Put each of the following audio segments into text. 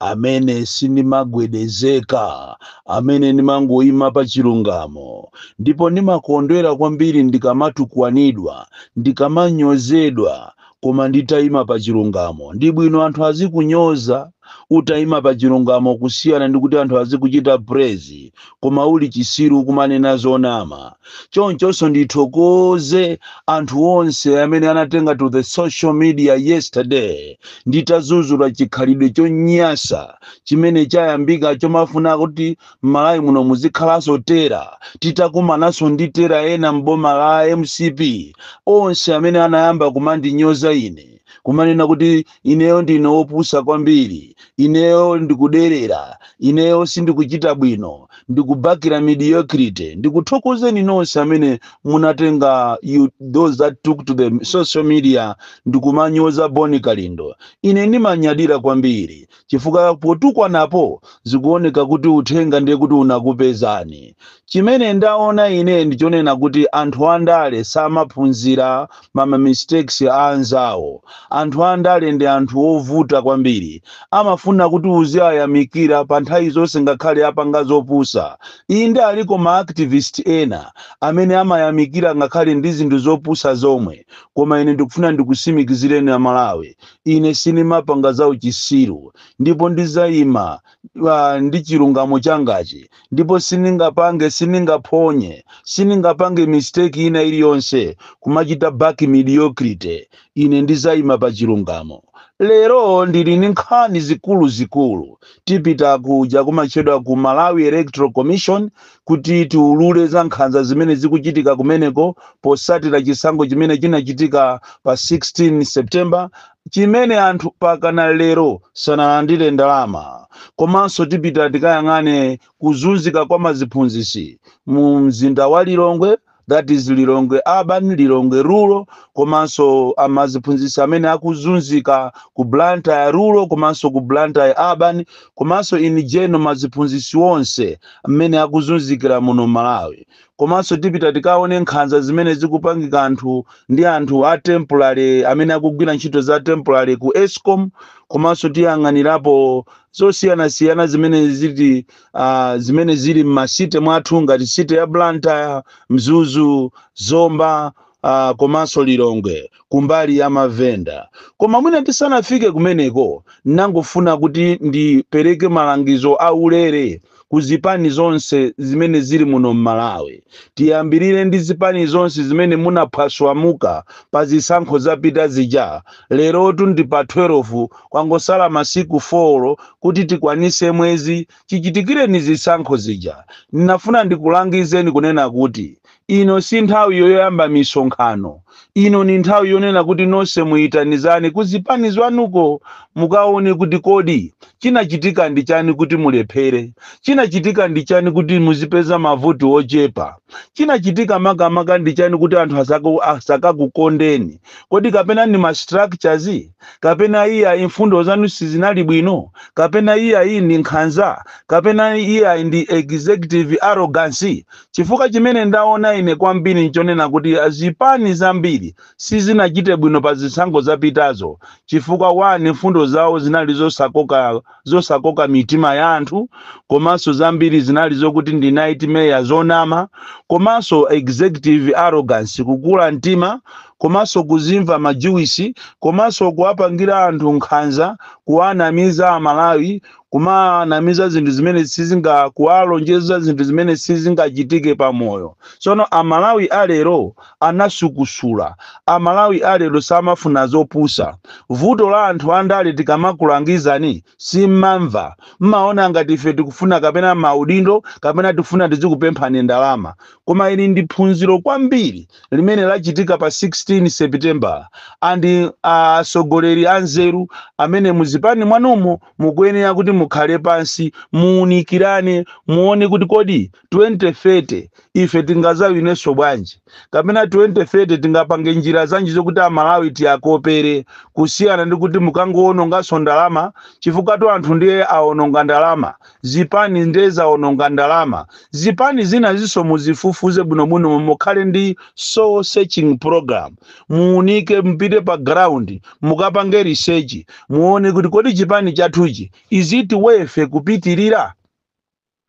amene sindimagwedezeka, amene ndimangoima pa chilungamo, ndipo ndimakondwera kwambiri ndikamatukwanidwa, ndikamanyozedwa, koma nditaima pa chilungamo. Ndi bwino anthu azikunyoza utaima pa chilungamo kusiyana ndi kuti anthu azikuchita praise koma uli chisiru kumanena zonama chonchonso ndithokoze anthu onse amene anatenga to the social media yesterday nditazuzula chikhalidwe chonyasa chimene chayambika chomafuna kuti mmalawi muno muzikhalanso terror titakumananso ndi terror ina mboma la mcp onse amene anayamba kumandinyoza ine kumanena kuti ineyo ndine wopusa kwambiri ineyo ndikuderera ineyo sindikuchita bwino ndikubakira mediocrity ndikuthokozeni nonse amene munatenga those that took to the social media ndikumanyoza boni kalindo ine ndimanyadira kwambiri chifukwa potukwanapo zikuoneka kuti uthenga ndiye kuti unakupezani Chimene ndaona ine ndichonena kuti anthu andale samaphunzira ma ma mistakes a anzawo. Anthu andale ndi anthu ovuta kwambiri. Amafuna kuti uziwayamikira pa nthawi zonse ngakhale apanga zopusa. Inde aliko ma activist ena amene amayamikira ngakhale ndi zinthu zopusa zomwe koma ine ndikufuna ndikusimikizireni a Malawi ine sindimapanga zauchisiru ndipo ndizaima ndi chilungamo changachi ndipo sindingapange sindingaphonye sindingapange mistake ina iliyonse kumachita back mediocrity ine ndizayima pa chilungamo lero ndili ndi nkhani zikuluzikulu tipita kuja kumatchedwa ku malawi electoral commission kuti tiulule za nkhanza zimene zikuchitika kumeneko posatira chisankho chimene chinachitika pa 16 september chimene anthu mpakana lero sanalandire ndalama komanso tipita tikayang'ane kuzunzika kwa maziphunzitsi mu mzinda wa lilongwe that is lilongwe urban lilongwe rural komanso amaziphunzitsi amene akuzunzika ku blantyre rural komanso ku blantyre urban komanso in general maziphunzitsi onse amene akuzunzikira muno malawi Komanso tipita tikaone nkhanza zimene zikupangika anthu ndi anthu a temporary amene akugwira ntchito za temporary ku escom komanso tiyang'anirapo zosiyanasiyana zimene ziti uh, zimene zili m'ma city mwathu ngati city ya blantyre mzuzu zomba ah, komanso Lilongwe kumbali ya mavenda. Koma mwina tisanafike kumeneko, nangofuna kuti ndipereke malangizo aulere ku zipani zonse zimene zili muno m'Malawi. Tiyambirire ndi zipani zonse zimene munaphwaswamuka pa zisankho zapita zija. Lerotu ndi pa 12 kwangosala masiku 4 kuti tikwanise mwezi chichitikireni zisankho zija. Nafuna ndikulangizeni kunena kuti Ino si nthawi yoyamba misonkhano. Ino ndi nthawi yonena kuti nonse muitanizane ku zipani zwanuko mukaone kuti kodi chinachitika ndi chani kuti mulephere. Chinachitika ndi chani kuti muzipeza mavoti ochepa. Chinachitika makamaka ndi chani kuti anthu asakakukondeni. Kodi kapena ndi ma structures? Kapena iyayi mfundo zanu sizinali bwino? Kapena iyayi ndi nkhanza? Kapena iyayi ndi executive arrogance? Chifukwa chimene ndaona ine kwambiri nchonena kuti zipani zambiri sizinachite bwino pa zisankho zapitazo chifukwa 1 mfundo zawo zinali zosakoka mitima ya anthu komanso zambiri zinali zokuti ndi nightmare zonama komanso executive arrogance kukula mtima komanso kuzimva majuwisi komanso kuwapangira anthu nkhanza kuwanamiza amalawi kumanamiza zinthu zimene sizinga kuwalonjeza zinthu zimene sizingachitike pa moyo tsono amalawi alero anasukusula amalawi alero samafuna zopusa vuto la anthu andale tikamakulangizani simmamva mmaona ngati ife tikufuna kapena maudindo kapena tikufuna tizikupemphani ndalama koma ili ndi phunziro kwambiri limene lachitika pa 16 sepitembala and atsogoleri anzeru amene muzipani mwanumo Mukuyenera kuti mukhale pansi, muunikirane, muone kuti kodi 2030 ife tingazawinenso bwanji? Kapena 2030 tingapange njira zanji zokuti a Malawi tiakopere kusiyana ndi kuti mukangoononganso ndalama chifukwatu anthu ndiye aononga ndalama, zipani nde zaononga ndalama. Zipani zinazinso muzifufuze bwinobwino mukhale ndi soul searching programme. muunike mupite pa ground mukapange research muone kuti kodi chipani chathuchi is it worth kupitirira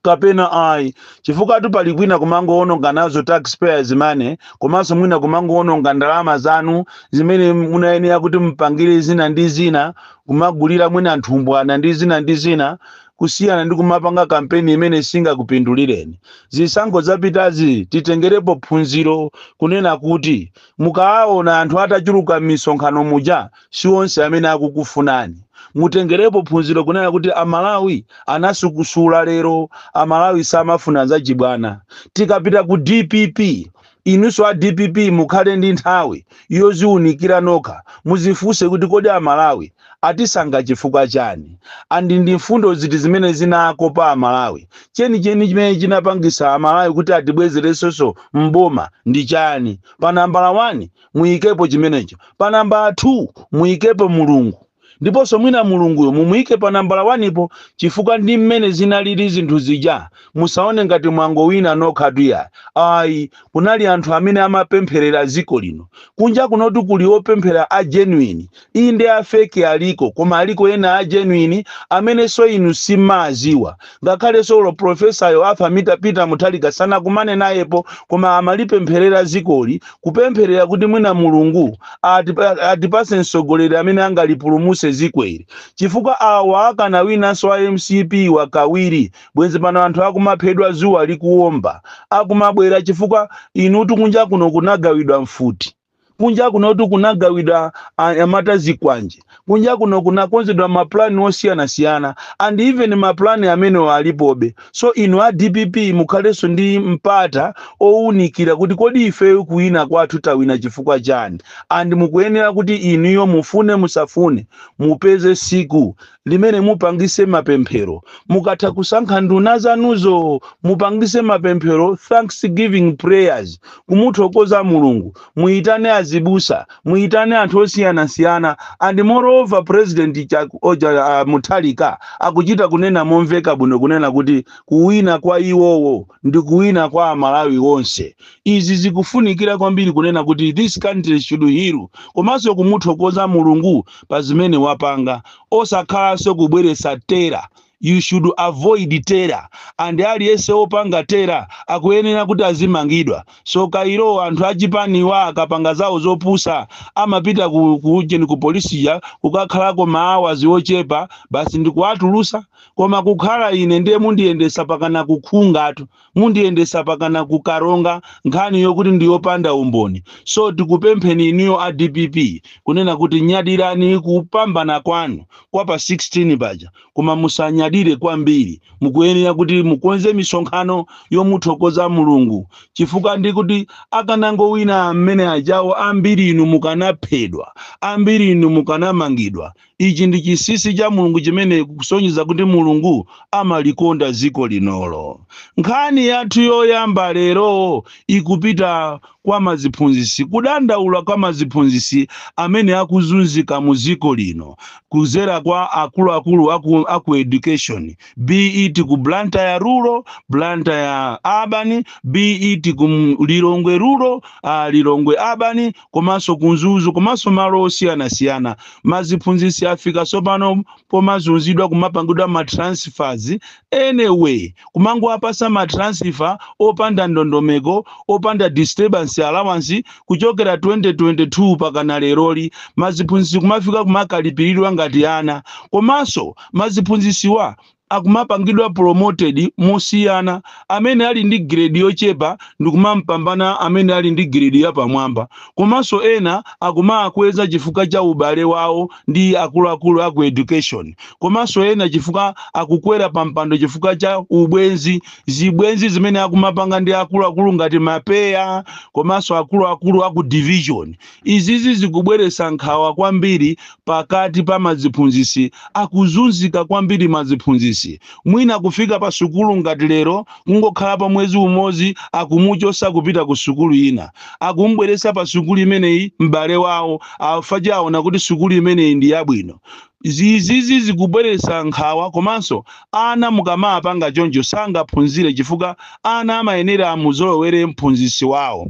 kapena ayi chifukwatu pali kwina kumangowononga nazo taxpayers money komanso mwina kumangowononga ndalama zanu zimene munayenera kuti mupangire zina ndi zina kumagulira mwina nthumbwana ndi zina ndi zina kusiyana ndi kumapanga kampeni imene singakupindulireni. Zisankho zapitazi titengerepo phunziro kunena kuti mukawaona anthu atachuluka m'misonkhano muja si onse amene akukufunani. Mutengerepo phunziro kunena kuti a Malawi anasukusula lero a Malawi samafuna zachibwana. Tikapita ku dpp Inunso a dpp mukhale ndi nthawi yoziunikira nokha muzifunse kuti kodi a Malawi atisankha chifukwa chani and ndi mfundo ziti zimene zinakopa a Malawi? Chenicheni chimene chinapangisa a Malawi kuti atibwezeresenso m'boma ndi chani? Pa nambala one muyikepo chimenecho. Pa nambala two muyikepo Mulungu. ndiponso mwina Mulunguyo mumuike pa nambala one ipo chifukwa ndi mmene zinalili zinthu zija. Musaone ngati mwangowina nokhatu iyayi. Ayi, kunali anthu amene amapempherera dziko lino. Kunja kunotu kuli opemphera a genuine. Inde a fake aliko, koma aliko ena a genuine amenenso inu simadziwa. ngakhale solo profesayo arthur peter muthalika sanakumane nayepo koma amalipempherera dzikoli kupempherera kuti mwina mulungu atipa- atipase mtsogoleri amene angalipulumuse dzikoli chifukwa awa akanawinanso a mcp kawiri bwenzi pano anthu akumaphedwa dzuwa likuwomba akumabwera chifukwa inutu kunja kuno kunagawidwa mfuti kunja kunotu kunagawidwa anyamata zikwanje kunja kuno kunakonzedwa mapulani osiyanasiyana and even mapulani amenewo alipobe so inu a dpp mukhalenso ndi mpata owunikira kuti kodi ifeyo kuwina kwathu tawina chifukwa chani and mukuyenera kuti inuyo mufune musafune mupeze siku limene mupangise mapemphero mukatha kusankha nduna zanuzo mupangise mapemphero thanksgiving prayers kumuthokoza mulungu muyitane azibusa muyitane anthu osiyanasiyana and moreover president Chak- oja uh, muthalika akuchita kunena momveka bwino kunena kuti kuwina kwa iwowo ndi kuwina kwa amalawi onse izi zikufunikira kwambiri kunena kuti this country should heal komanso kumuthokoza mulungu pa zimene wapanga osakhalanso kubweretsa terror you should avoid terror and aliyense opanga terror akuyenera kuti azimangidwa so kairo anthu achipaniwa akapanga zawo zopusa amapita ku, ku, ku polisi kuja kukakhalako maawazi ochepa basi ndikuwatulusa Koma kukhala ine ndiye mundiyendesa pakana ku Nkhunga, mundiyendesa pakana ku Karonga nkhani yokuti ndi yopanda umboni. So tikupempheni inuyo a dpp kunena kuti nyadirani kupambana kwanu kwa pa 16 paja koma musanyadire kwambiri. Mukuyenera kuti mukonze misonkhano yomuthokoza Mulungu chifukwa ndi kuti akanangowina amene ajawo ambiri inu mukanaphedwa, ambiri inu mukanamangidwa Ichi ndi chinsinsi cha Mulungu chimene kusonyeza kuti Mulungu amalikonda dziko linolo. Nkhani yathu yoyamba lero ikupita kwa maziphunzitsi kudandaula kwa maziphunzitsi amene akuzunzika mu dziko lino kudzera kwa akuluakulu aku, aku education be it ku Blantyre rural, Blantyre urban, be it ku Lilongwe rural, uh, Lilongwe urban, komanso ku Mzuzu komanso malo osiyanasiyana. Maziphunzitsi afika tsopano pomazunzidwa kumapangidwa ma transfers any way, kumangowapatsa ma transfer opanda ndondomeko, opanda disturbance allowance kuchokera 2022 pakana leroli. Maziphunzitsi kumafika kumakalipiridwa ngati ana. Komanso maziphunzitsiwa akumapangidwa promoted mosiyana amene ali ndi grade yochepa ndikumampambana amene ali ndi grade yapamwamba komanso ena akumawakweza chifukwa cha ubale wawo ndi akuluakulu aku education komanso ena chifukwa akukwera pampando chifukwa cha ubwenzi zibwenzi zimene akumapanga ndi akuluakulu ngati mapeya komanso akuluakulu aku division Izizi zikubweretsa nkhawa kwambiri pakati pa maziphunzitsi akuzunzika kwambiri maziphunzitsi mwina kufika pa sukulu ngati lero kungokhala pa mwezi umodzi akumuchotsa kupita ku sukulu ina akum'bweretsa pa sukulu imeneyi m'bale wawo chifukwa awona kuti sukulu imeneyi ndi yabwino zizizi zikubweretsa nkhawa komanso ana mukamawapanga choncho sangaphunzire chifukwa ana amayenera amuzolowere m'phunzitsi wawo.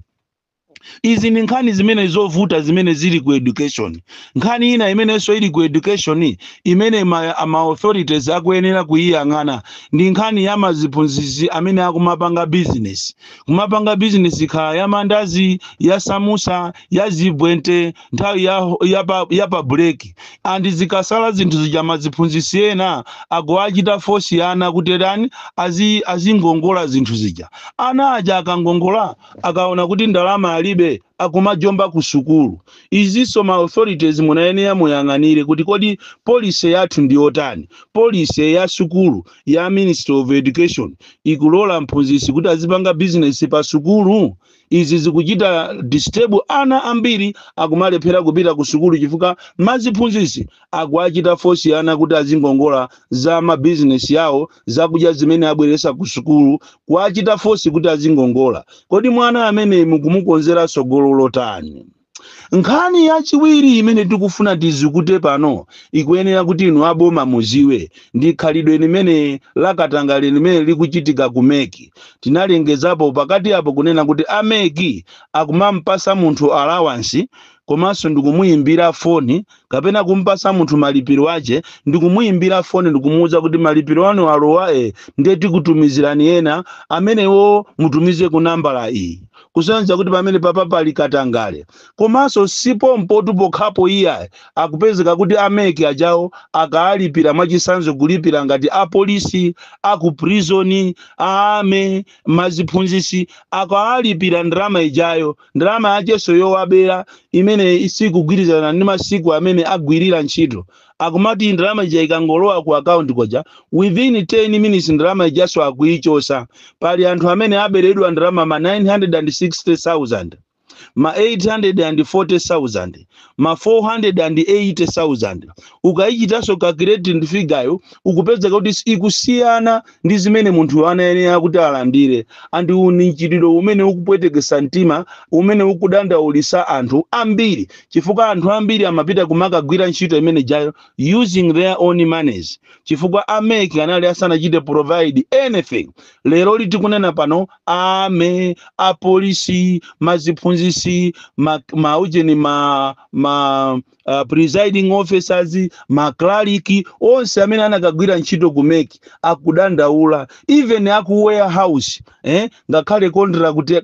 izi ndi nkhani zimene zovuta zimene zili ku education nkhani ina imenenso ili ku education imene ma, ma authorities akuyenera kuyiyang'ana ndi nkhani ya maziphunzitsi amene akumapanga business kumapanga business khala ya mandazi ya samusa ya zibwente nthawi ya, ya, pa, ya pa break and zikasala zinthu zija maziphunzitsi ena akuwachita fosi ana kuti tani azi, azingongola zinthu zija ana aja akangongola akaona kuti ndalama alibe akumajomba ku sukulu. Izinso ma authorities munayenera muyiyang'anire kuti kodi policy yathu ndi yotani. Policy ya sukulu ya Ministry of Education ikulola mphunzitsi kuti azipanga business pa sukulu? Izi zikuchita disturb ana ambiri akumalephera kupita ku sukulu chifukwa maziphunzitsi akuwachita fosi ana kuti azingongola za mabizinesi awo zakudya zimene abweretsa ku sukulu kuwachita fosi kuti azingongola kodi mwana amene mukumukonzera tsogolo lotani nkhani yachiwiri imene tikufuna tizikute pano ikuyenera kuti inu aboma mudziwe ndi khalidwe limene lakatangale limene likuchitika ku meki tinalengezapo pakati apo kunena kuti a meki akumampatsa munthu alawansi komanso ndikumuyimbira foni kapena kumpasa munthu malipiro ake ndi kumuimbira foni ndikumuuza kuti malipiro anu alowa ndiye tikutumizirani ena amenewo mutumize ku nambala iyi kusonyeza kuti pamene papa pali katangale komanso si pompotu pokhapo iyayi akupezeka kuti ameki ajawo akaalipira mwachisanzo kulipira ngati apolisi a ku prison a army maziphunzisi akaalipira ndalama ijayo ndalama yakeso yowabera imene isikugwirizana ndi masiku amene agwirira ntchito akumati ndalama ija ikangolowa ku akaunti koja within 10 minutes ndalama ijaso akuichosa pali anthu amene aberedwa ndalama ma 960000 ma 840000 ma 480,000 ukayichitanso calculate figure yo ukupezeka kuti ikusiyana ndi zimene munthu anayenera kuti alandire and uwu ni mchitidwe umene ukupwetekesa mtima umene ukudandaulisa anthu ambiri chifukwa anthu ambiri amapita kumakagwira ntchito imene jayo using their own monies chifukwa ameki anali asanachite provide anything leroli tikunena pano a army apolisi maziphunzisi ma ujeni ma presiding officers maklaliki onse amene anakagwira ntchito kumeki akudandaula even aku warehouse ngakhale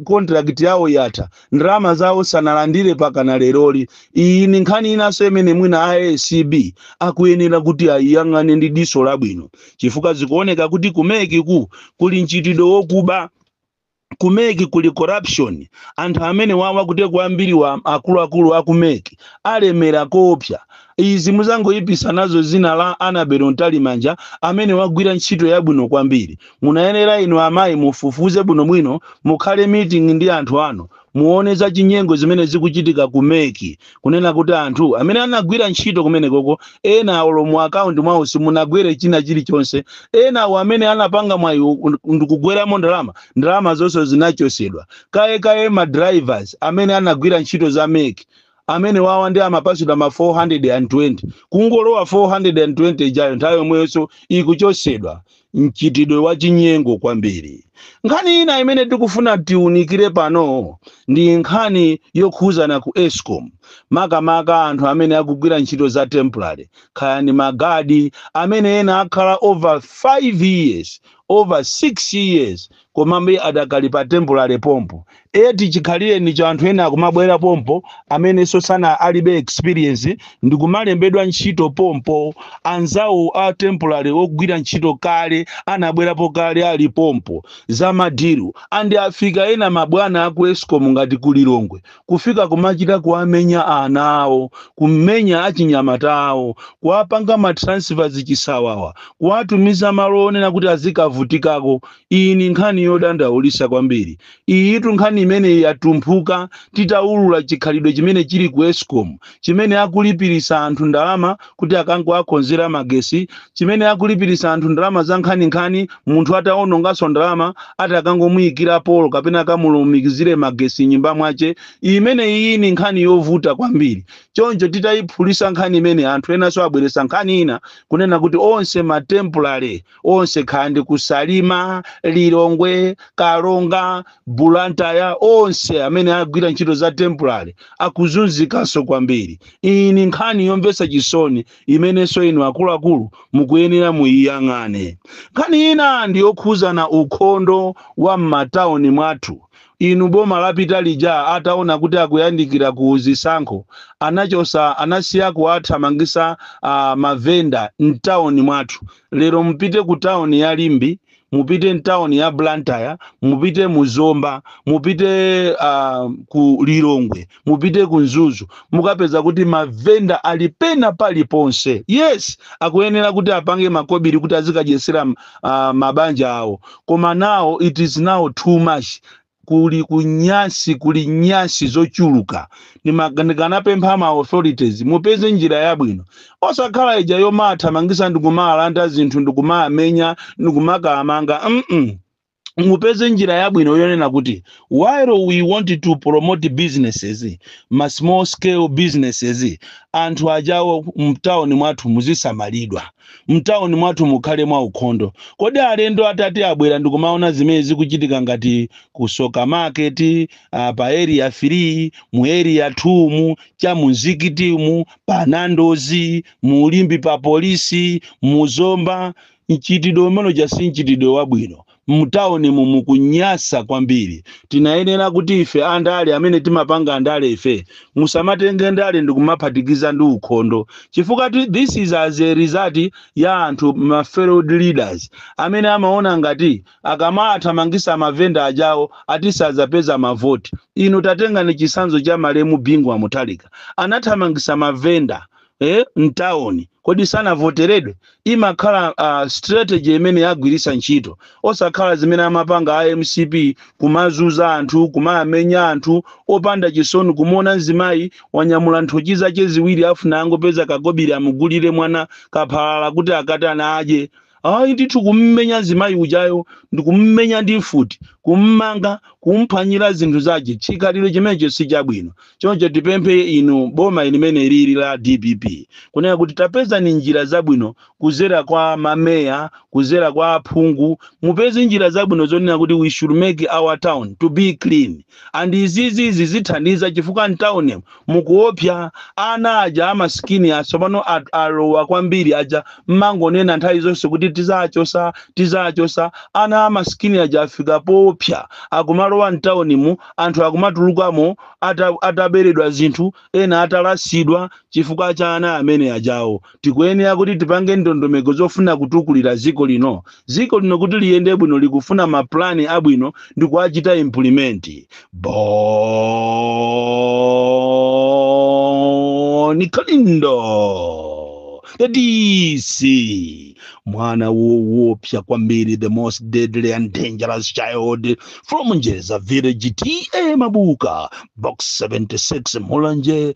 contract yawo yatha ndalama zawo sanalandire pakana leroli iyi ni nkhani inanso imene mwina a acb akuyenera kuti ayiyang'ane ndi diso labwino chifukwa zikuoneka kuti ku mec ku kuli mchitidwe wokuba ku mec kuli corruption anthu amene wawa kuteku ambiri wa akuluakulu a ku mec alemera koopsa izi muzingoyipisa nazo zina la Annabel mtalimanja amene wagwira ntchito yabwino kwambiri munayenera inu amayi mufufuze bwinobwino mukhale meeting ndi anthu anu muone za chinyengo zimene zikuchitika ku mec kunena kuti anthu amene anagwira ntchito kumenekoko ena olo mu akaunti mwawo simunagwere china chilichonse ena awo amene anapanga mwayi ndikugweramo ndalama ndalama zonse zinachosedwa kaye kaye ma drivers amene anagwira ntchito za meki amene wawa ndi amapasidwa ma 420 kungolowa 420 ijayo nthawi yomweyonso ikuchosedwa mchitidwe wachinyengo kwambiri. Nkhani ina imene tikufuna tiunikire pano ndi nkhani yokhuzana ku escom, makamaka anthu amene akugwira ntchito za temporary, kaya ndi magadi amene ena akhala over 5 years, over 6 years komabe adakali pa temporary pompo eti chikhalirenicho anthu ena akumabwera pompo amenenso sana alibe experience ndikumalembedwa ntchito pompo anzawo a temporary ogwira ntchito kale anabwerapo kale ali pompo za madiru andi afika ena mabwana aku escom ngati ku lilongwe kufika kumachita kuwamenya ana awo, kumenya achinyamata awo, kuwapanga ma transfers chisawawa, kuwatumiza malo onena kuti azikavutikako. Iyi ni nkhani yodandaulisa kwambiri. Iyitu nkhani imene yatumphuka titaulula chikhalidwe chimene chili ku escom chimene akulipirisa anthu ndalama kuti akangowakonzera magesi chimene akulipirisa anthu ndalama za nkhaninkhani munthu atawononganso ndalama ati akangomuyikira polo kapena akamulumikizire magesi m'nyumba mwache imene iyi ni nkhani yovuta kwambiri choncho titayiphulisa nkhani imene anthu enanso abweresa nkhani ina kunena kuti onse ma temporary onse kaya ndi ku salima lilongwe karonga bulantaya onse amene agwira ntchito za temporary akuzunzikanso kwambiri iyi ni nkhani yomvesa chisoni imenenso inu akuluakulu mukuyenera muyiyang'ane nkhani ina ndi yokhuzana ukhondo wa m'matauni mwathu inu boma lapita lija ataona kuti akuyandikira ku zisankho anachosa anasiya kuwathamangisa uh, mavenda mtauni mwathu lero mupite ku tauni ya limbi mupite mtauni ya blantyre mupite mu zomba mupite uh, ku lilongwe mupite ku mzuzu mukapeza kuti mavenda ali pena paliponse yes akuyenera kuti apange makobiri kuti azikadyesera uh, mabanja awo koma now it is now too much kuli kunyasi kuli nyasi zochuluka ndikanapempha ma authorities mupeze njira yabwino osakhala ija yomaathamangisa ndikumaalanda zinthu ndikumaamenya ndikumakaamanga mm mupeze njira yabwino yonena kuti while we want to promote businesses ma small scale businesses anthu ajawo mtauni mwathu muzisamalidwa mtauni mwathu mukhale mwaukhondo. Kodi alendo atati abwera ndikumaona zimene zikuchitika ngati ku Tsoka Market, uh, pa area 3, mu area 2 mu, cha mu Mzikiti mu, pa Nandozi, mu Limbi pa polisi, mu Zomba, mchitidwe umenewo si mchitidwe wabwino. mtaunimu mukunyasa kwambiri tinayenera kuti ife andale amene timapanga andale ife musamatenge ndale ndikumaphatikiza ndi ukhondo chifukwa ti- this is as a result ya anthu ma failed leaders amene amaona ngati akamaathamangisa mavenda ajawo ati sazapeza mavoti inu tatengani chisanzo cha malemu bingu wa mutharika anathamangisa mavenda eh, mtawuni kodi sanavoteredwe imakhala uh, strategy imene yagwiritsa ntchito osakhala zimene amapanga a mcp kumazuza anthu kumaamenya anthu opanda chisoni kumuona mzimayi wanyamula nthochi zake ziwiri afuna angopeza kakobiri amugulire mwana kaphalala kuti akatana adye Ayi ndithu kummenya zimayi ujayo ndikummenya ndi mfuti, kummanga, kumphwanyira zinthu zache chikhalidwe chimenecho sichabwino. Choncho tipemphe inu boma ilimene lili la dpp kunena kuti tapezani njira zabwino kuzera kwa ma mayor, kuzera kwa aphungu mupeze njira zabwino zonena kuti we should make our town to be clean. and izizi zithandiza chifukwa mtaunimu mukuopsya ana aja amasikini atsopano alowa kwambiri aja mmangonena nthawi zonse kuti tizachosa tizachosa ana amasikini aja afika poopsya akumalowa mtawunimu anthu akumatulukamo ataberedwa zinthu ena atalasidwa chifukwa cha ana amene ajawo Tikuyenera kuti tipange ndondomeko zofuna kutukulira dziko lino. Dziko lino kuti liyende bwino likufuna ma plan abwino ndikuwachita implement. Bon Kalindo the DC mwana woopsa kwambiri the most deadly and dangerous child from Njeza village TA Mabuka box 76 Mulanje